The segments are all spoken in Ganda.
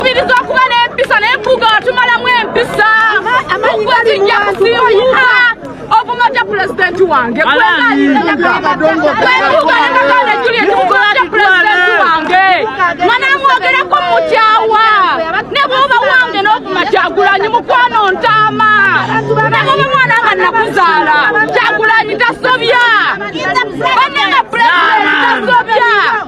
Tukubiriza okuba n'empisa naye mpuga watumalamu empisa okwetinja kusiibuka ovuma ja pulezidenti wange kwegaaaaagana juliet mukolo ja pulezidenti wange mwana mwogereko mukyawa ne bwoba wange n'ovuma kyagulanyi mukwano ntaama ne bwoba mwana nga nakuzaala kyagulanyi tasobya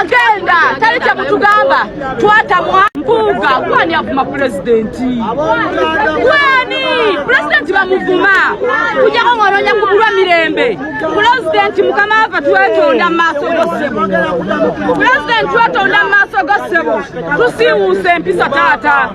Agenda tali kyemutugamba twatamwa mpuuga gwani avuma pulezidenti gwani pulezidenti bamuvuma kujako ng'onoonya kubulwa mirembe pulezidenti mukama waffe twetonda mu maaso go ssebo pulezidenti twetonda mu maaso go ssebo tusiiwuusa empisa taata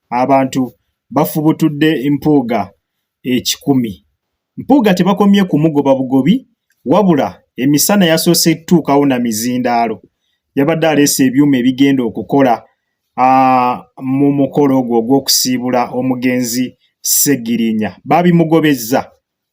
Abantu bafubutudde Mpuuga ekikumi. Mpuuga tebakomye kumugoba bugobi wabula emisana yasoose kutuukawo na mizindaalo. Yabadde aleese ebyuma ebigenda okukola mu mukolo ogwo ogw'okusiibula omugenzi Ssegirinya. Baabimugobezza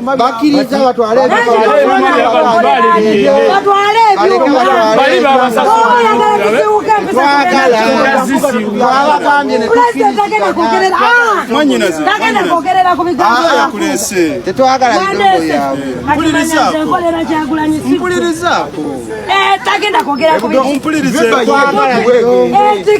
bakiriza batwale tetwagala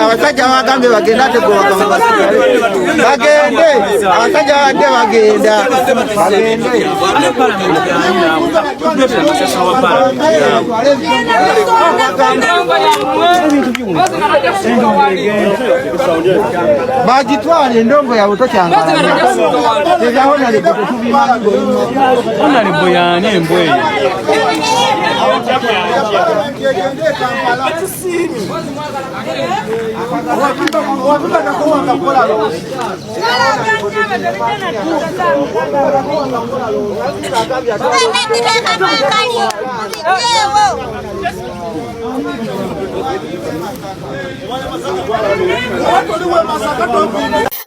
abasajja bagambye bagende ate bagende abasajja badde bagenda bagitwala endongo yabwe tokyangaonalebo yani embwa eyo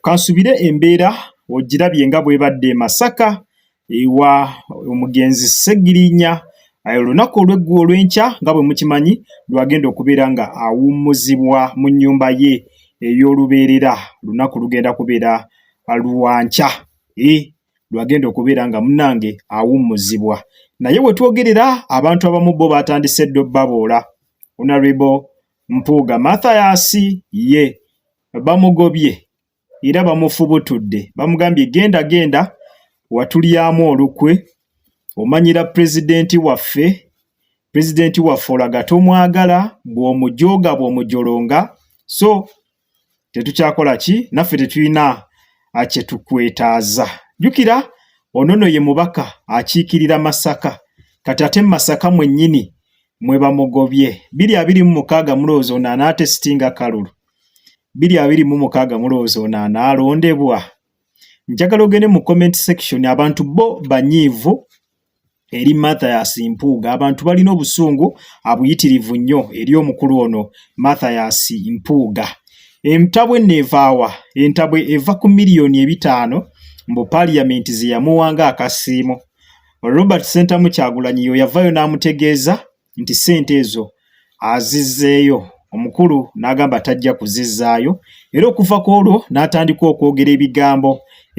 Kansubire embeera ogirabye nga bwebadde e Masaka ewa omugenzi Ssegirinya olunaku olweggu olw'enkya nga bwe mukimanyi lwagenda okubeera nga awummuzibwa mu nnyumba ye ey'olubeerera lunaku lugenda kubeera lwankya lwagenda okubeera nga munange awummuzibwa naye wetwogerera abantu abamu bo batandise ddo baboola onarebo mpuuga mathayasi ye bamugobye era bamufubutudde bamugambye genda genda watulyamu olukwe omanyira pulezidenti waffe pulezidenti waffe olaga tomwagala bw'omujooga bw'omujolonga so tetukyakola ki naffe tetulina kyetukwetaaza jjukira onono ye mubaka akiikirira masaka kati ate masaka mwennyini mwe bamugobye biri abiri mu mukaaga mulowooza ono anaatesitinga kalulu biri abiri mu mukaaga mulowooza ono anaalondebwa njagala ogende mu comment section abantu bo banyiivu eri mathias mpuuga abantu balina obusungu abuyitirivu nnyo eri omukulu ono mathias mpuuga entabwe neevaawa entabwe eva ku miliyoni ebitaano mbu paliyamenti zeyamuwanga akasiimo robert sentamu kyagulanyiyo yavayo n'amutegeeza nti ssente ezo azizzeeyo omukulu n'agamba tajja kuzizzaayo era okuva ku olwo n'atandika okwogera ebigambo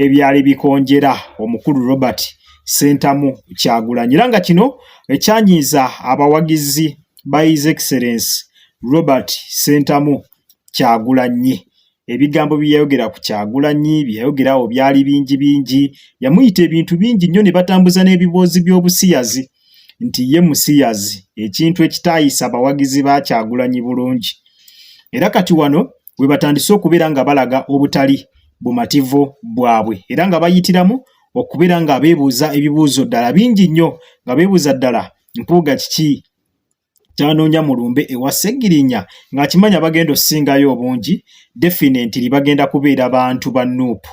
ebyali bikonjera omukulu Robert Ssentamu Kyagulanyi era nga kino ekyanyiiza abawagizi ba His Excellence Robert Ssentamu Kyagulanyi. Ebigambo bye yayogera ku Kyagulanyi bye yayogera awo byali bingi bingi. Yamuyita ebintu bingi nnyo ne batambuza n'ebiboozi by'obusiyazi nti ye musiyazi, ekintu ekitaayisa bawagizi ba Kyagulanyi bulungi. Era kati wano we batandise okubeera nga balaga obutali bumativu bwabwe era nga bayitiramu okubeera nga beebuuza ebibuuzo ddala bingi nnyo nga beebuuza ddala Mpuuga kiki tanoonya mulumbe ewa Ssegirinya ng'akimanya bagenda osingayo obungi definitely bagenda kubeera bantu ba Nup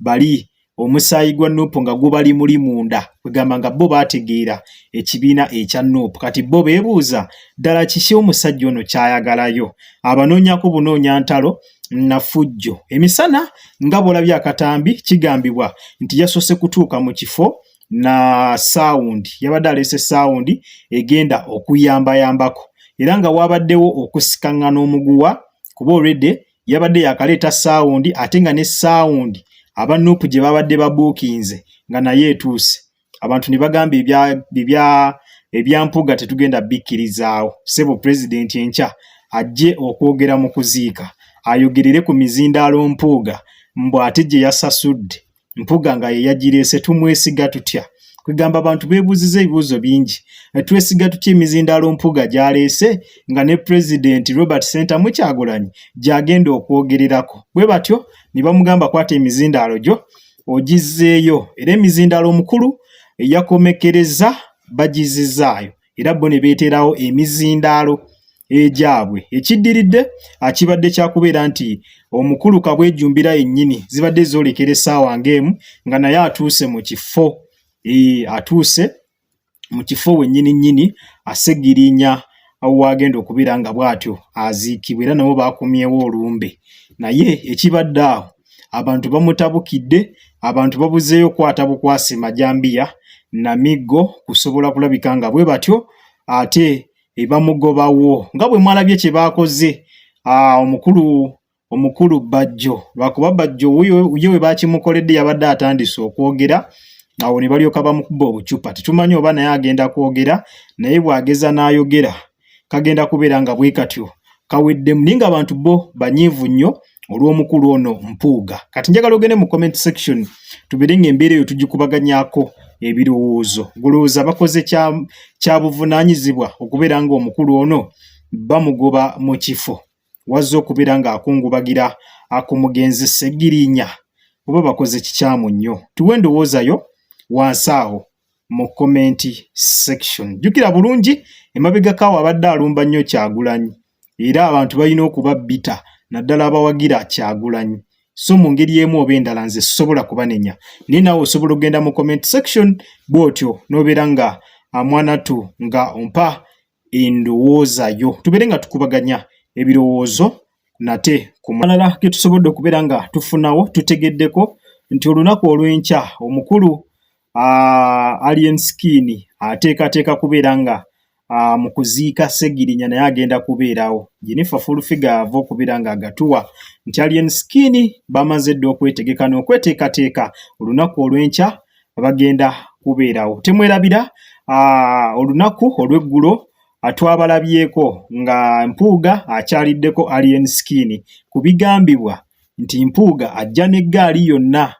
bali omusaayi gwa Nup nga gubali muli munda kwegamba nga bo baategeera ekibiina ekya Nup kati bo beebuuza ddala kiki omusajja ono kyayagalayo abanoonyako bunoonya ntalo nafujjo emisana nga bwolabye akatambi kigambibwa nti yasoose kutuuka mu kifo na sound yabadde aleese sound egenda okuyambayambako era nga wabaddewo okusikaŋŋana omuguwa kuba olwedde yabadde yakaleeta sound ate nga ne sound aba nuupu gye babadde babuukinze nga naye etuuse abantu ne bagamba ebya ebyampuga tetugenda bikkirizaawo sebo pulezidenti enkya ajje okwogera mu kuziika ayogerere ku mizindaalo mpuuga mbu ate gye yasasudde mpuga nga yeyagireese tumwesiga tutya kwegamba abantu bebuuziza ebibuuzo bingi eh, twesiga tutya emizindaalo mpuga gyaleese nga ne pulezidenti robert center mukyagulanyi gyagenda okwogererako bwe batyo ne bamugamba kwata emizindaalo gyo ogizzeeyo era emizindaalo omukulu eyakomekereza bagizizaayo era bo ne beeteerawo emizindaalo egyabwe ekiddiridde akibadde kyakubeera nti omukulu kabwejjumbira yennyini zibadde zoolekera essaawa ng'emu nga naye atuuse mu kifo eh, atuuse mu kifo wennyini nnyini asegirinya waagenda okubeera nga bw'atyo aziikibwa era nabo baakumyewo olumbe naye ekibadde awo abantu bamutabukidde abantu babuzeeyo okwata bukwasi majambiya namiggo kusobola kulabika nga bwe batyo ate ebamugobawo nga bwe mwalabye kye baakoze ah, omukulu omukulu bajjo lwakuba bajjo ye we bakimukoledde yabadde atandise okwogera awo ne balyoka bamukuba obucupa tetumanyi oba naye agenda kwogera naye bw'ageza n'ayogera kagenda kubeera nga bwe katyo kaweddemu naye ng'abantu bo banyiivu nnyo olw'omukulu ono mpuuga kati njagala ogende mu comment section tubeere ng'embeera eyo tugikubaganyako ebirowoozo golowooza bakoze kyabuvunaanyizibwa okubeera ng'omukulu ono bamugoba mu kifo wazze okubeera ng'akungubagira akumugenzi segirinya oba bakoze kikyamu nnyo tuwe endowoozayo wansi awo mu comment section jukira bulungi emabegakawo abadde alumba nnyo kyagulanyi era abantu balina okuba bita naddala abawagira kyagulanyi so mu ngeri emu oba endala nze sisobola kubanenya naye nawe osobola okugenda mu comment section bwotyo nobeera nga amwanatu nga ompa endowooza yo tubeere nga tukubaganya ebirowoozo nate ku malala ge tusobodde okubeera nga tufunawo tutegeddeko nti olunaku olw'enkya omukulu alien skin ateekateeka kubeera nga mu kuziika segirinya naye agenda kubeerawo jenifa fulfiga ava okubeera nga agatuwa nti alien skin bamaze dda okwetegeka n'okweteekateeka olunaku olw'enkya bagenda kubeerawo. Temwerabira ah, olunaku olw'eggulo ah, twabalabyeko nga Mpuuga akyaliddeko Alien Skin ku bigambibwa nti Mpuuga ajja n'eggaali yonna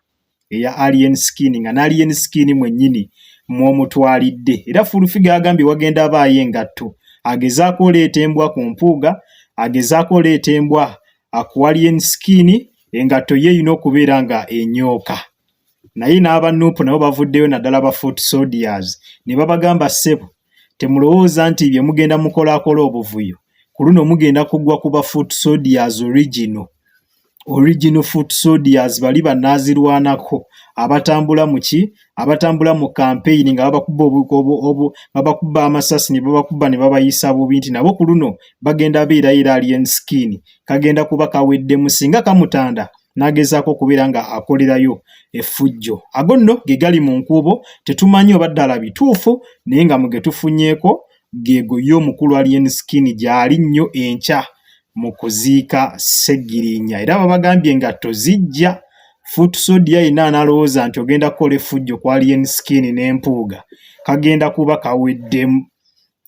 eya Alien Skin nga n'Alien Skin mwennyini mw'omutwalidde era Fullfigure agambye wagenda abaayo engatto agezaako oleeta embwa ku Mpuuga agezaako oleeta embwa ah, ku Alien Skin engatto ye erina okubeera nga enyooka. naye n'aba nup nabo bavuddeyo naddala ba foot soldiers ne babagamba ssebo temulowooza nti bye mugenda mukolakola obuvuyo ku luno mugenda kugwa ku ba foot soldiers original original foot soldiers bali banaazirwanako abatambula muki abatambula mu kampeyini nga babakuba babakuba amasasi ne babakuba ne babayisa bubi nti nabo ku luno bagenda beera era alien skin kagenda kuba kaweddemu singa kamutanda n'agezaako okubeera nga akolerayo effujjo ago nno ge gali mu nkuubo tetumanyi oba ddala bituufu naye nga mu ge tufunyeeko geego ye omukulu alien skin gyali nnyo enkya mu kuziika ssegirinya era babagambye nga tozijja foot sodia yina analowooza nti ogenda kukola effujjo ku alien skin n'empuuga kagenda kuba kaweddemu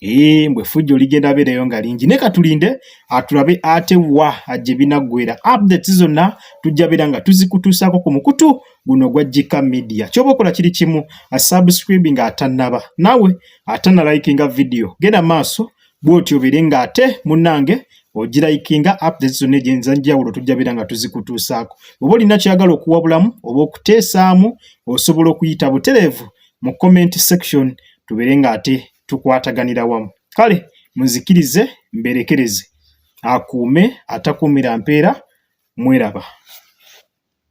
Ee, eh, mbwe fujjo ligenda beereyo nga lingi naye katulinde atulabe ah, ate wa ajje binaggwera updates zonna tujja beera nga tuzikutuusaako ku mukutu guno gwa jika media kyoba okola kiri kimu asubscribing ah, atannaba nawe atanalayikinga vidiyo genda maaso bwotyo obeere nga ate munnange ogirayikinga updates zonna egyenza njawulo tujja beera nga tuzikutuusaako oba olina kyagala okuwabulamu oba okuteesaamu osobola okuyita butereevu mu comment section tubeere nga ate tukwataganira wamu kale muzikirize mberekereze akuume atakuumira mpeera mweraba.